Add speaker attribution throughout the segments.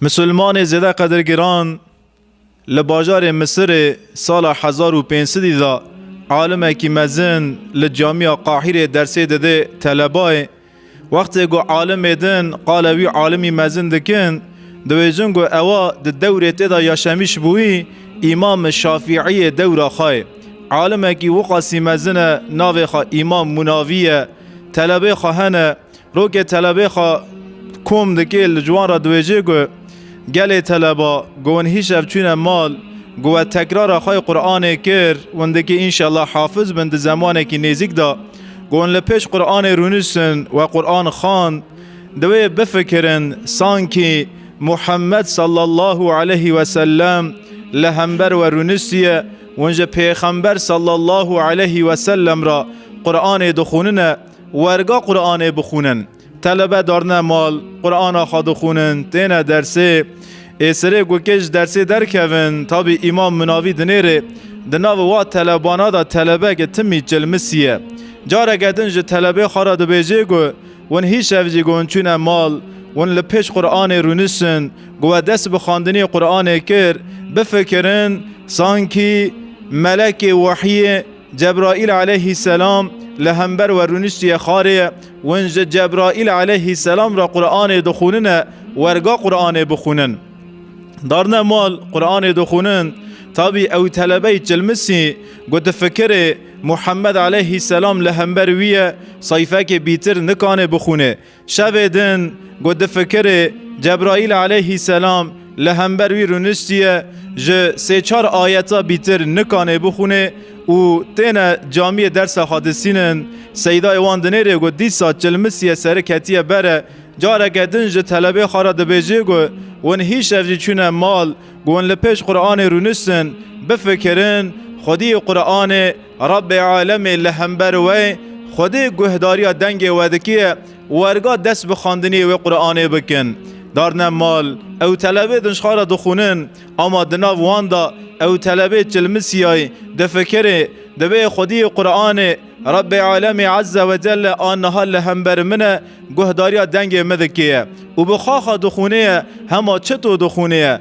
Speaker 1: Misilmanê zêde qedirgiran li bajarê Misirê sala hezar û pênc sedî de alimekî mezin li Camîya Qahîrê dersê didê telebayê. Wextê ku alimê din qala wî alimî mezin dikin, diwêjin ku ewa di dewrê tê de yaşemîş bûyî Îmam Şafîîyê dewra xwe ye. Alimekî wiqasî mezin e navê xwe Îmam Munavî ye. Telebê xwe hene. Rokê telebê xwe kom dike li ciwan re diwêjê ku gelê teleba ku hûn hîşev çûne mal ku we tekrara xwe yê Quranê kir hûn dike înşellah hafiz bin di zemanekî nêzîk de ku hûn li pêş Quranê rûniştin we Quran xwend divê bifikirin sankî Muhammed sallallahu aleyhî weselem li hember we rûniştiye hûn ji pêxember sallallahu aleyhî weselem re Quranê dixwînine. werga Quranê bixûnin. Telebe darine mal, Qurana xwe dixûnin, têne dersê. Ê serê ku kê ji dersê derkevin, tabî îmam minavî dinêrê. Di nav wa telebana de telebeke timî çilmisî ye. Careke din ji telebê xwe re dibêje ku hûn hîşev jî gon çûne mal, hûn li pêş Quranê rûniştin, ku we dest bi xwendinê Quranê kir, bifikirin sankî melekê wehyê, Cebraîl aleyhî selam li hember we rûniştiye xarê ye. Win ji Cebraîl aleyhî selam re Quranê dixûnine werga Quranê bixûnin. Darine mal Quranê dixûnin tabî ew telebeyî çilmisî ku di fikirê Muhammed aleyhî selam li hember wî ye sayfekê bîtir nikanê bixûnê. Şevê din ku difikirê Cebraîl aleyhî selam li hember wî rûniştiye ji sê çar ayeta bîtir nikanê bixwînê û têne camiyê dersa xwe disînin, Seydayê wan dinêrê ku dîsa çilmisiye seri ketiye bere, careke din ji telebê xwe re dibêjê ku hûn hîşev jî çûne mal ku hûn li pêş Quranê rûniştin, bifikirin, xwediyê Quranê. Rabbê Alemê li hember we Xwedê guhdariya dengê we dikiye, werga dest bi xwendinê wê Quranê bikin. Darne mal, ew telebê di nşxara dixwinin, ama di nav wan da ew telebê çilmisiyay, difikirê, Divê Xwediyê Quranê, Rabbê Alemê Ezze ve Celle a niha li hember min e, guhdariya dengê min dikiye û bi xaxa dixwinê ye, hema çito dixwinê ye.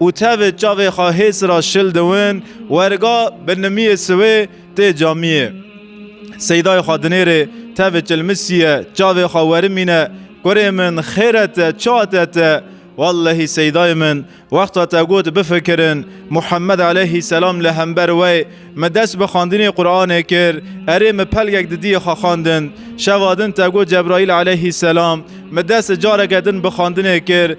Speaker 1: Û tevê çavê xwe hês ra şil diwin werga binimiyê siwê tê camiyê. Seydayê xwe dinêrê tevê çilmisiye çavê xwe werimîne, Kurê min xêre te ça te te? Wellehî Seydayê min wexta te got bifikirin, Muhemmed eleyhî selam li hember wey min dest bi xandinê Quranê kir, erê min pelgek di diyê xwe xandin. Şeva din te got Cebraîl eleyhî selam min dest careke din bi xandinê kir,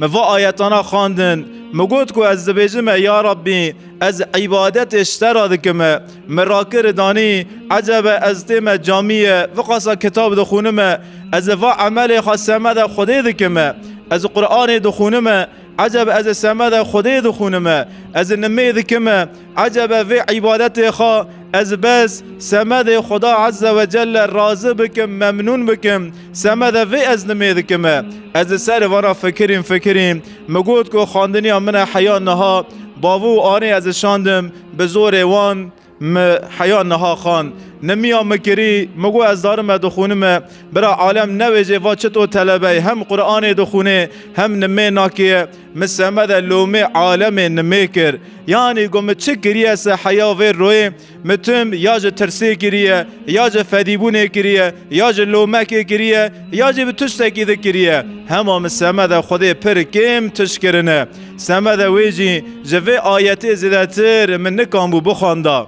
Speaker 1: Me va ayetana xandin, me got ku ez dibêjim e ya Rabbî, ez îbadetê ji te re dikim e. Me rakir e danî, ecebe ez tê me camî ye, viqasa kitab dixwînim e. Ez ê va emelê xwe semeda Xwedê dikim e. Ez Quranê dixwînim e, ecebe ez ê semeda Xwedê dixwînim e. Ez ê nimê dikim e. Ecebe vê îbadetê xwe ez bes semedê Xweda Ezze ve Celle razi bikim, memnûn bikim. Semede vê ez nimê dikim e. Ez li serê vana fikirîm fikirîm. Min got ku xwendiniya min e heya niha bavû û anê ez ê şandim bi zorê wan min heya niha xwend. Nimiya min kirî, min got ez darim e dixwînim e. Bira alem newêjê va çito telebeyê hem Quranê dixwînê hem nimê nakê ye. Mi seme de lomê alemê nimê kir. Yanî got mi çi kiriye se heya vê royê? Mi tim ya ji tirsê kiriye, ya ji fedîbûnê kiriye, ya ji lomekê kiriye, ya jî bi tiştekî di kiriye. Hema mi seme de Xwedê pir kêm tişt kirine. Seme de wê jî ji vê ayetê zêdetir min nikanbû bixwenda.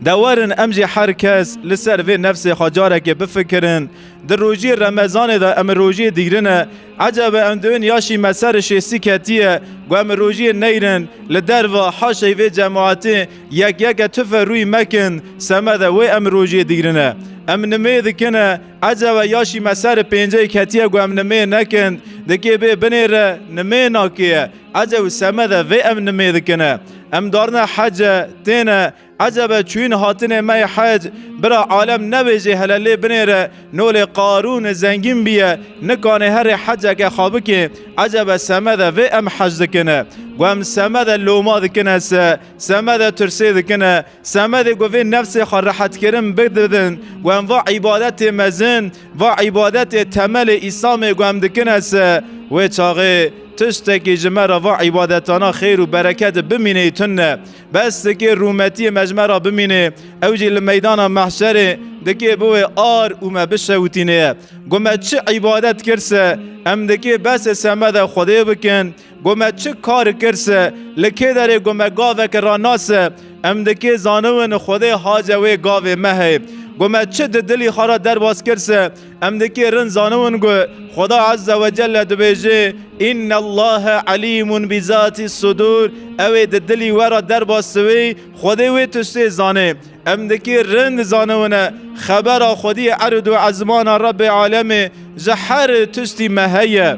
Speaker 1: De werin em jî her kes li ser vê nefsê xwe carekê bifikirin. Di rojî remezanê de em rojiyê digrin e. Ecebe em di win ya şîme ser şêstî ketiye ku em rojiyê neyrin. Li derve haşey vê cemaetê yek yeke tufe rûyî mekin semede wê em rojiyê digrin e. Em nimê dikin e ecebe ya şîme ser pênceyê ketiye ku em nimê nekin. Di kê bê binê re nimê nakê ye. Ece û seme de vê em nimê dikine. Em darine hece, têne, ecebe çûyîn hatinê me yê hec, bira alem nebêjê hele lê binêre, nolê Qarûn zengîn bîye, nikanê herê heceke xwe bikê, ecebe seme de vê em hec dikine. Gu em seme de loma dikine se, seme de tirsê dikine, Semedê ku vê nefsê xwe rehetkirin bidin ku em va îbadetê mezin, va îbadetê temelê Îslamê ku em dikin hese, wê çaxê tiştekî ji me re va îbadetana xêr û bereketê bimînê tune. Bes dikê rûmetiyê me ji me re bimînê, ew jî li meydana mehşerê dikê biwê ar û me bişewitînê. Ku me çi îbadet kir se, em dikê besê semedê Xwedê bikin, Got me çi kar kir se, li kê derê got me gaveke rana se, em di kê zaniwin Xwedê hace wê gavê me hey. Got me çi di dilî xwe re derbas kir se, em di kê rind zaniwin ku Xweda Ezze ve Celle dibêje, Înnellâhe Elîmun bi zatîs sudûr, ew ê di dilî we re derbas siwî, Xwedê wê tiştê zanê. Em di kê rind zaniwine xebera Xwediyê erd û ezmana Rebbê Alemê ji her tiştî me heye.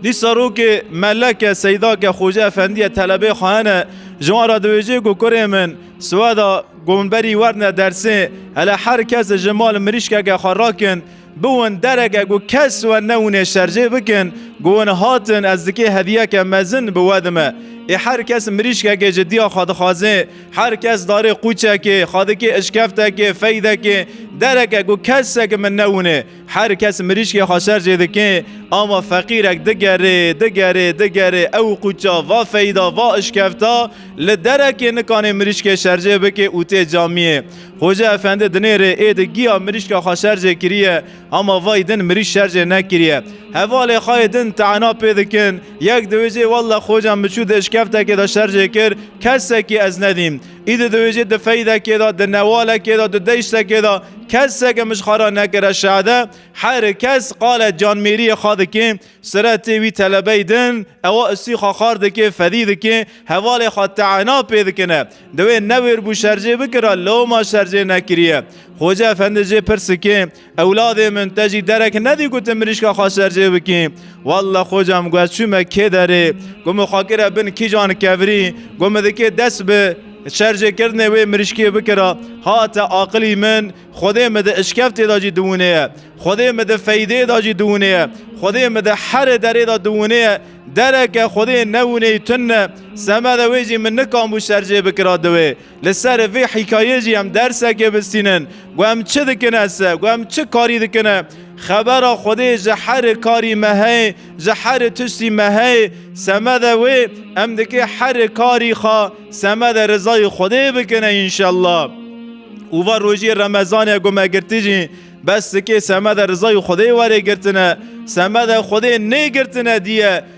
Speaker 1: Dîsa rokê Meleke Seydake Xoce Efendiye telebê xwe hene ji wan re diwêjê ku kurê min siweda ku min berî werdine dersê hele her kes ji mal mirîşkeke xwe rakin biwin dereke ku kes we newinê şerjê bikin ku win hatin ez dikê hediyeke mezin bi we dime ê her kes mirîşkekê ji diya xwe dixwazê her kes darê qûçekê xwe dikê işkeftekê feydekê dereke ku kesek min newinê Her kes mirîşkê xwe şer jê dike, ava feqîrek digerê, digerê, digerê, ew qûça va feyda, va işkevta, li derekê nikanê mirîşkê şerjê bike û tê camiyê. Xoje Efendi dinêrê ê di giya mirîşka xwe şer jê kiriye, ama vay din mirîş şer jê nekiriye. Hevalê xayê din te'na pê dikin, yek diwêjê walla xoca min çû di işkevtekê de şer jê kir, kesekî ez nedîm. Îdî diwêjî di feydekê de, di newalekê de, di deyştekê de keseke mij xwe ra nekire şade. Her kes qale canmêriyê xwe dike, siretê wî telebey din, ewa istî xwe xar dike, fedî dike, hevalê xwe te'ena pê dikine. Di wê newêr bû şerjê bikira, loma şerjê nekiriye. Xoca Efendi jê pirs dike. Ewladê min te jî derek nedî ku tu mirîşka xwe sercê bikî. Walla xoca min got çûme kê derê ku min xwe kire bin kîjan kevirî ku min dikê dest bi sercêkirinê wê mirîşkê bikira. Hate aqilî min Xwedê min di işkeftê de jî diwinê ye. Xwedê min di feydê de jî diwinê ye. Xwedê min di herê derê de diwinê ye. Dereke Xwedê newineyî tune semede wê jî min nikam bû sercê bikira di wê. Li ser vê hîkayê jî em dersekê bistînin ku em çi dikin ese, ku em çi karî dikin e. Xebera Xwedê ji herî karî me heye, ji herî tiştî me heye. Semede wê em dikê herî karî xwe semede rizayê Xwedê bikine înşellah. Û va rojî remezanê ku me girtî jî bes dikê semede rizayê Xwedê were girtine. Semede Xwedê nê girtine dîye.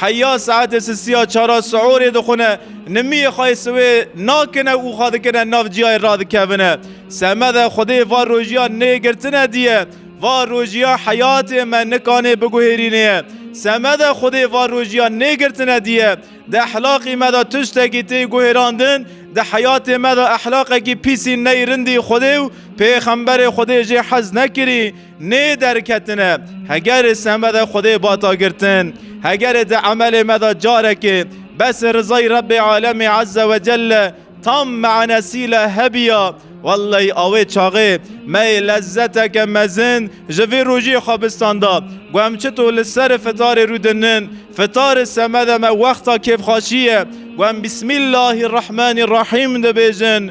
Speaker 1: Heya saetê sisî ya çara siûrê dixwine, nimiyê xwe yê siwê nakine û xwe dikine nav ciyayê radikevine. Semede Xwedê va rojiya nê girtine diye. Va rojiya heyatê me nikanê biguhêrînê ye. Semede Xwedê va rojiya nê girtine diye. Di ehlaqî me de tiştekî tê guhêrandin, di heyatê me de ehlaqekî pîsî ney rindî Xwedê û pêxemberê Xwedê jê hez nekirî. Nê derketine hegerê seme de Xwedê bata girtin. Hegerê di emelê me de carekê besê rizayî Rebbê Alemê Ezze ve Celle tam manesîle hebiya, welley awê çaxê me yê lezzeteke mezin ji vê rojiyê xwebistan da ku em çito li serê fitarê rû dinin. Fitarê seme de me wexta kêfxaşî ye ku em Bismillahî Rehmanî Rehîm dibêjin.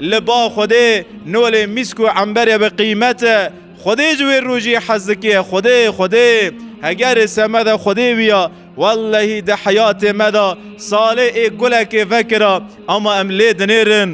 Speaker 1: Li ba Xwedê nolê mîsk û emberê bi qîmet e. Xwedê ji wê rojî hez dike. Xwedê, Xwedê. Hegerê semeda Xwedê bûya. Wellehî di heyatê me de salê ê gulekê vekira ama em lê dinêrin.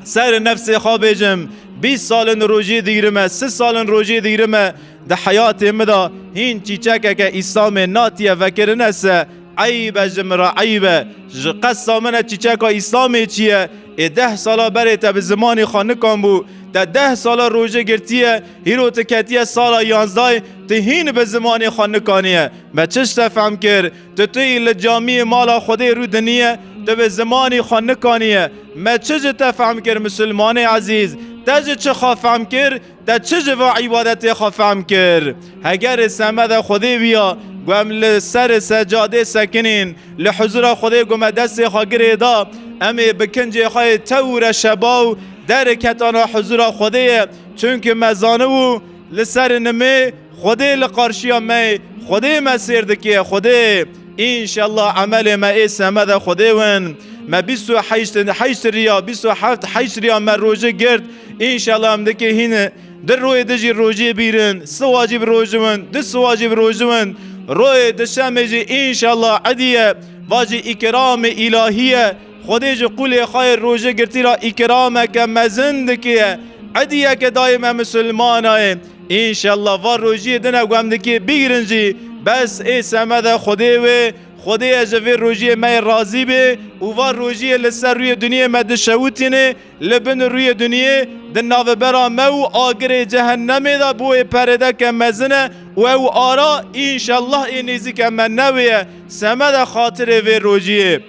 Speaker 1: Serê nefsê xwe bêjim, bîst sal in rojî digrim e, sil sal in rojî digrim e. Di heyatê min de hîn çîçekeke Îslamê natiye vekirine se. Eyb e ji min re eyb e. Ji qesa min e çîçeka Îslamê çi ye? Ê deh sala berê te bi zimanê xwe nikanbû. Te deh sala rojê girtiye, hîro tu ketiye sala yanzdayê, tu hîn bi zimanê xwe nikaniye. Me çi ji te fehm kir? Tu tûyî li camiyê mala Xwedê rû diniye, tu bi zimanê xwe nikaniye. Me çi ji te fehm kir misilmanê ezîz? Te ji çi xwe fehm kir? Te çi ji van îbadetê xwe fehm kir? Hegerê semedê Xwedê bûya ku em li serê secadê sekinên, li huzûra Xwedê ku me destê xwe girê da, em ê bi kincê xwe yê tew û reşebaw derê ketana huzûra Xwedê ye, çimkî me zanibû li serê nimê, Xwedê li qarşiya me ye, Xwedê me sêr dike, Xwedê. Înşella emelê me ê semeda Xwedê win. Me bîst û heşt heşt riya, bîst û heft heşt riya me rojik girt, înşella em dike hîn. Di royê di jî rojiyê bîrin, siwa jî bi roji win, di siwa jî bi roji win. Royê di şemê jî înşella îdî ye, va jî îkramê îlahî ye. Xwedê ji qûlê xwe yê rojê girtî re îkrameke mezin dikiye. Ediyeke dayê me misilmana yê. Înşella va rojiyê din ew gemdikiyê bigrin jî. Bes ê semede Xwedê wê. Xwedê ye ji vê rojiyê me yê razî bê û va rojiyê li ser rûyê duniyê me dişewitînê. Li bin rûyê duniyê di navbera me û agirê cehennemê de bo wê peredeke mezin e û ew ara înşellah ê nêzîke me newê ye. Semede xatirê vê rojî yê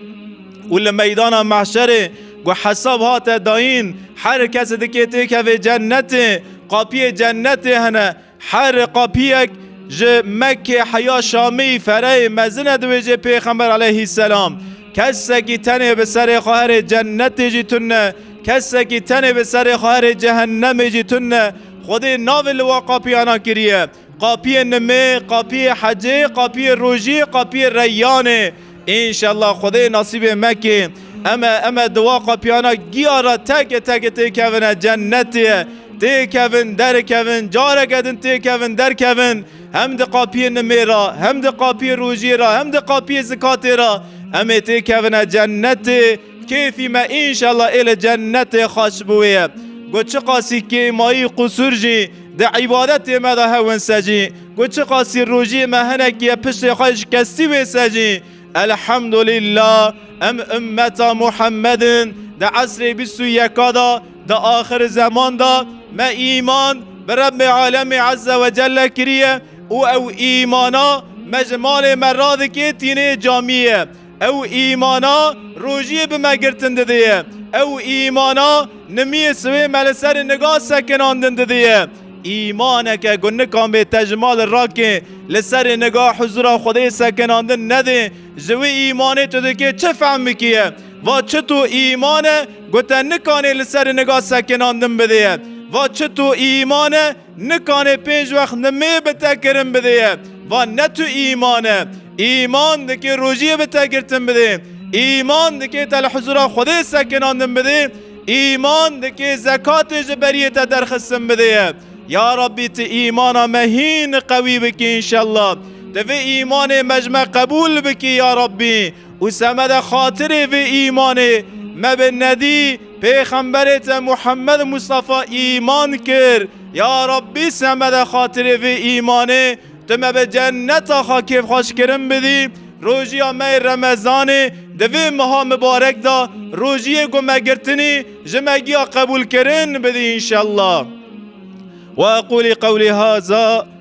Speaker 1: û li meydana mehşerê ku hesab hate dayîn her kes dikê têkevê cennetê. Qapiyê cennetê hene. Her qapiyek ji Mekkê heya Şamî fereyê mezin e dibêje Pêxember aleyhîsselam, Kesekî tenê bi serê xwe herê cennetê jî tun ne, kesekî tenê bi serê xwe herê cehennemê jî tun ne. Xwedê navê li wan qapiyanan kiriye. Qapiyê nimê, qapiyê hecê, qapiyê rojî, qapiyê reyyanê. Înşella Xwedê nasîbê mekê. Eme eme diwa qapiyana giya ra teke teke têkevine cennetê. Têkevin derikevin careke din têkevin derkevin hem di qapiyê nimê ra hem di qapiyê rojiyê ra hem di qapiyê zikatê ra emê têkevine cennetê. Kêfî me înşela ê li cennetê xwe ji bo wê ye. Ku çiqasî kêmayî û qusûr jî di îbadetê me de hewin ser jî, ku çiqasî rojiyê me hinekî ye piştê xwe şikestî wê ser jî, Elhemdulîllah em ummeta Muhemmed in, di esrê bîst û yeka de, di axirzeman de me îman bi Rebbê Alemî Ezze ve Celle kiriye û ew îmana me ji malê me radikê tînê camiyê. Ew îmana rojiyê bi me girtin didiye. Ew îmana nimiyê siwê me li serê niga sekinandin didiye. Îmaneke ku nikan bê te ji malê rakê li serê niga huzura Xwedê sekinandin nedê, ji wê îmanê tu dikê çi fehm bikiye? Va çi tu îmane ku te nikanê li serê niga sekinandin bidê ye? Va çi tu îmane Nikanê pênc wext nimê bi te kirin bidê ye. Van ne tu îman e. Îman dikê rojiyê bi te girtin bidê. Îman dikê te li hizûra Xwedê sekinandin bidê. Îman dikê zekatê ji beriyê te derxistin bidê ye. Ya Rabbî tu îmana me hîn qewî bikî înşellah. Tu vê îmanê me ji me qebûl bikî ya Rabbî. Û semede xatirê vê îmanê me bi nedî pêxemberê te Muhammed Mustafa îman kir. Ya Rabbî semede xatirê vê îmanê tu me bi cenneta xwe kêfxweşkirin bidî. Rojiya me yê Remezanê di vê meha mibarek de rojiyê ku me girtinî ji me giya qebûlkirin bidî înşellah. Weqûlî qewlî haza.